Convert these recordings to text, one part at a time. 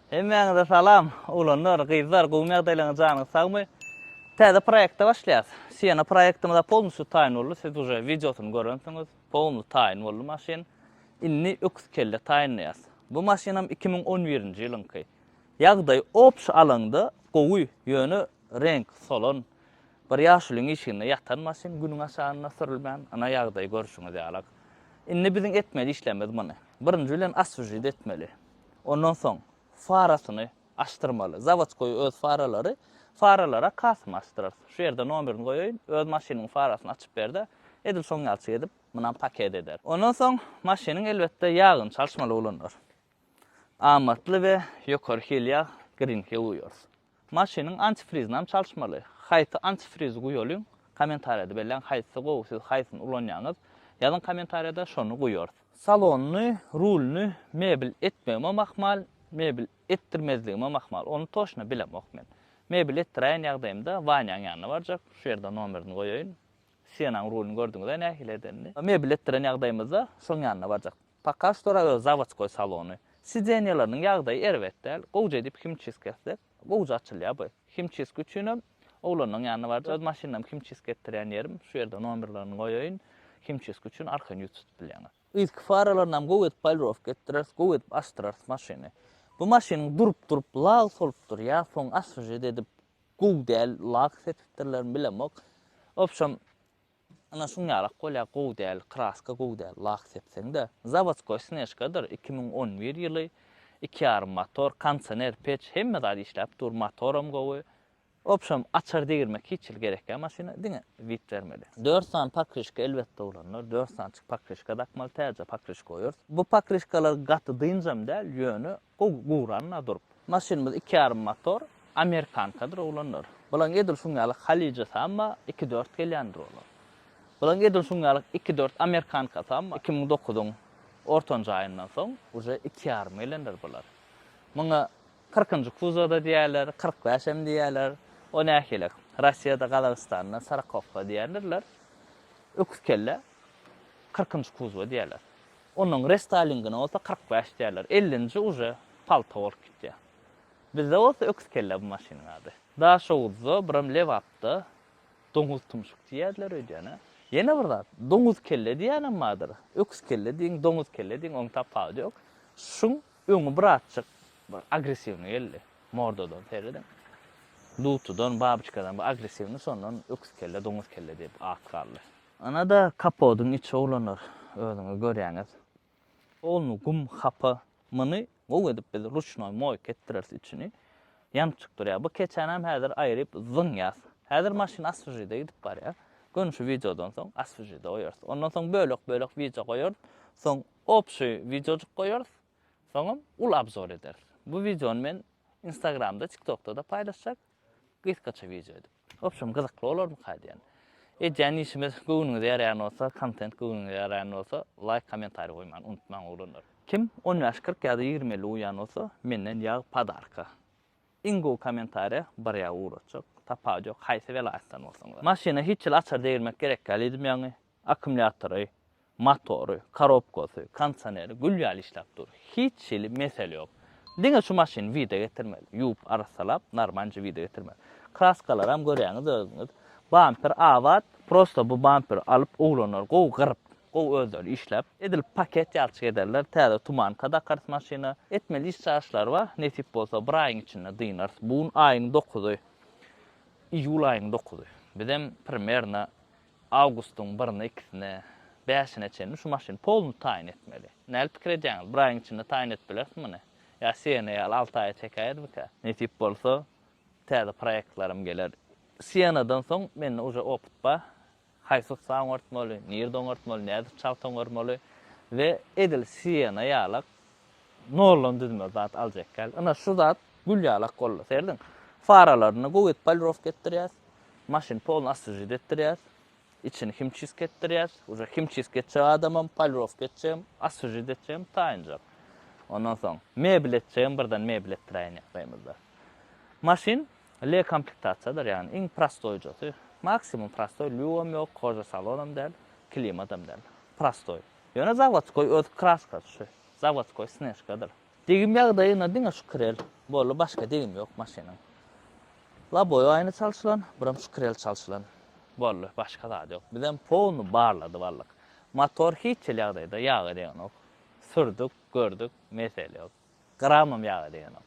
Hemmäňize salam! Oglanlar, gyzlar gowymy ýagdaýlaryňyz janyňyz sagmy? Täze proýekte başlaýas. Siena proýektimize polnusýu taýyn boldy, siz uje wideosyny görensiňiz. Polny taýyn boldy maşyn. Indi öküz kelle taýynlaýas. Bu maşynam iki müň on birinji ýylyňky. Ýagdaý obşy alanda gowy, ýöne reňk solan, bir ýaşulyň işiginde ýatan maşyn günüň aşagynda sürülmän, ynha ýagdaý görşüňiz ýalak. Indi biziň etmeli işlerimiz muny. Birinji bilen oswžit etmeli. Ondan soň farasyny açdyrmaly. Zawodskoý öz faralary, faralara kasymy açdyrarys. Şu ýerde nomerini goýaýyn, öz maşynyň farasyny açyp ber-de, edil şoň ýalçyk edip, munam paket eder. Ondan soň maşynyň elbetde ýagyny çalyşmaly bolanlar. Amatly we ýokary hil ýag Green Hue guýarys. Maşynyň antifrizinam çalyşmaly. Haýsy antifrizi guýalyň kommentariýada belläň haýsy gowy siz haýsyny ulanýaňyz ýazyň kommentariýada şony guýarys. Salonyny, rulyny mebel etmegimem ahmal, mebel etdirmezligimem ahmal, ony toşna bilemok men. Mebel etdiräýen ýagdaýymda Wanýaň ýanyna barjak, şu ýerde nomerini goýaýyn. Sienanyň rulyny gördüňizä nähili edenini. Mebel etdiren ýagdaýymyzda şoň ýanyna barjak. Pokaz storaga zawodskoý salony. Sidenýeleriniň ýagdaýy erbet däl. Gowja edip himçisk etsek, gowja açylýar bu. Himçisk üçinem oglanlaryň ýanyna barja, öz maşynymda himçisk etdirýän ýerim, şu ýerde nomerlerini goýaýyn. Himçisk üçin arkaýyn ýüz tutup bilýäňiz. Yzky faralaryny hem gowy edip polirowka etdireris, gowy edip açdyrarys maşyny. Bu maşynyň durup-durup lak solupdyr ýa soň oswežet edip gowy däl lak sepipdirlermi bilemok. Wobşem, Ynha şuňňalak bolýar gowy däl kraska gowy däl lak sepseňde zawodskoý snežkadyr iki müň on bir ýyly iki ýarym motor konsener peç hemme zat işläp dur motoram gowy wobşem açar degirmek hiç hili gerek ýa maşyna diňe wid bermeli dört sany pokryşka elbetde bolanlar dört sanyçyk pokryşka dakmaly täze pokryşka goýarys bu pokryşkalar gaty dynjam däl ýöne Gowy guranda durup. Maşynymyz iki ýarym motor, amerikankadyr oglanlar. Bulaň edil şuň ýaly Halija Samma iki dört gelýändir olar. Bulaň edil şuň ýaly iki dört amerikanka Samma iki müň dokuzyň ortanjy aýyndan soň uje iki ýarym gelendir bular. Muňa kyrkynjy kuzowda diýýärler, kyrk bäş hem diýýärler. O nähilek? Rossiýada, Gazagystanda Sarakovka diýendirler. Öküz kelle kyrkynjy kuzowa diýýärler. Onuň restalingine bolsa kyrk bäş diýerler. Ellinji uje palta bolup gitýär. Bizde bolsa öküz kellä bu maşynyň ady. Daşoguzda, biram Lebapda doňuz tumşuk diýýärler öýdýän-ä. Ýene bir zat, doňuz kelle diýýänem bardyr. Öküz kelle diýiň, doňuz kelle diýiň, onuň tapawudy ýok. Şuň öňi birazjyk bir agressiwnyý geldi. Mordadan serediň. Dutudan, babyçkadan bir agressiwnyý, şondan öküz kelle, doňuz kelle diýip at galdy. Ana-da kapodyň içi oglanlar, özüňiz görýäňiz. Ogluny gum hapa, myny gowy edip biz ruçnoý moýka etdireris içini. Ýamçyk durýar. Bu keçänem häzir aýryp zyňýas. Häzir maşyn asfžide gidip barýa. Göni şu wideodan soň asfžide goýarys. Ondan soň bölek-bölek wideo goýarys. Soň obşi wideojyk goýarys. Soňam uly abzor ederis. Bu wideony men instagramda, tiktokda-da paýlaşjak. Gysgaça wideo edip. Wobşem gyzykly bolarmyka diýen. Edýän işimiz göwnüňize ýaraýan bolsa, kontent göwnüňize ýaraýan bolsa, laýk, kommentariý goýmany unutmaň oglanlar. Kim on bäş kyrk ýa-da ýigrimi elli uýan bolsa, menden ýag padarka. Iň gowy kommentariýa bir ýag ugratjak, tapawut ýok haýsy welaýatdan bolsaňyzam. Maşyna hiç hili açar degirmek gerek däl diýdim ýaňy, Akkumulýatory, motory, korobkasy, kondisioneri gül ýaly işläp dur. Hiç hili mesele ýok. Diňe şu maşyny wida getirmeli. Ýuwup, arassalap, narmanjy wida getirmeli. Kraskalaram görýäňiz özüňiz. Bamper abat. Prosta bu bamperi alyp oglanlar gowy gyryp, gowy özleri işläp, edil paket ýalçyk ederler. Täze tumanka dakarys maşyna. Etmeli iş-çaryşlar bar. Nesip bolsa bir aýyň içinde dynarys. Bu gün aýyň dokuzy, iýul aýyň dokuzy. Bizem primerno Awgustyň birine ikisine, bäşine çenli şu maşyny polny taýyn etmeli. Nädip pikir edýäňiz, bir aýyň içinde taýyn edip bileris muny? Ýa Siena ýaly alty aýa çekäýermikä? Nesip bolsa, täze proýektlerim geler. Sienadan soň mende uje opyt bar. Haýsy ussa oňartmaly, nirde oňartmaly, nädip çalt oňarmaly we edil Siena ýalak Noldan düzme zat aljak ýaly. Ina şu zat gül ýaly ak boldy. Serediň. Faralaryny gowy edip polirowka etdirýäs. Maşyny polny oswejit etdirýäs. Içini himçisk etdirýäs. Uje himçisk etjek adamam, polirowka etjegem, oswejit etjegem taýynjak. Ondan soň mebel etjegem birden mebel etdiräýen ýagdaýymyzda. Maşyn le komplektasiýadyr, ýagny iň prostoýjasy. Maksimum prostoý, lýugam ýok, koža salonam däl, klimadam däl. Prostoý. Ýöne zawodskoý öz kraskasy şu. Zawodskoý snežkadyr. Degim ýagdaýyna diňe şu krel boldy başga degim ýok maşynyň. Laboý aýna çalşylan, biram şu krel çalşylan. Boldy başga zady ýok. Bizem powny barlady barlyk. Motor hiç hili ýagdaýda ýaga degenok. Sürdük, gördük, mesele ýok. Gramam ýaga degenok.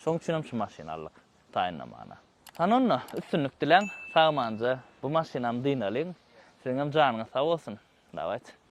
Şoň üçinem şu maşyny aldyk taýynlamana. Hany onda üstünlik diläň sagmanja bu maşynam dynalyň siziňem janyňyz sag bolsun. Dawaýt.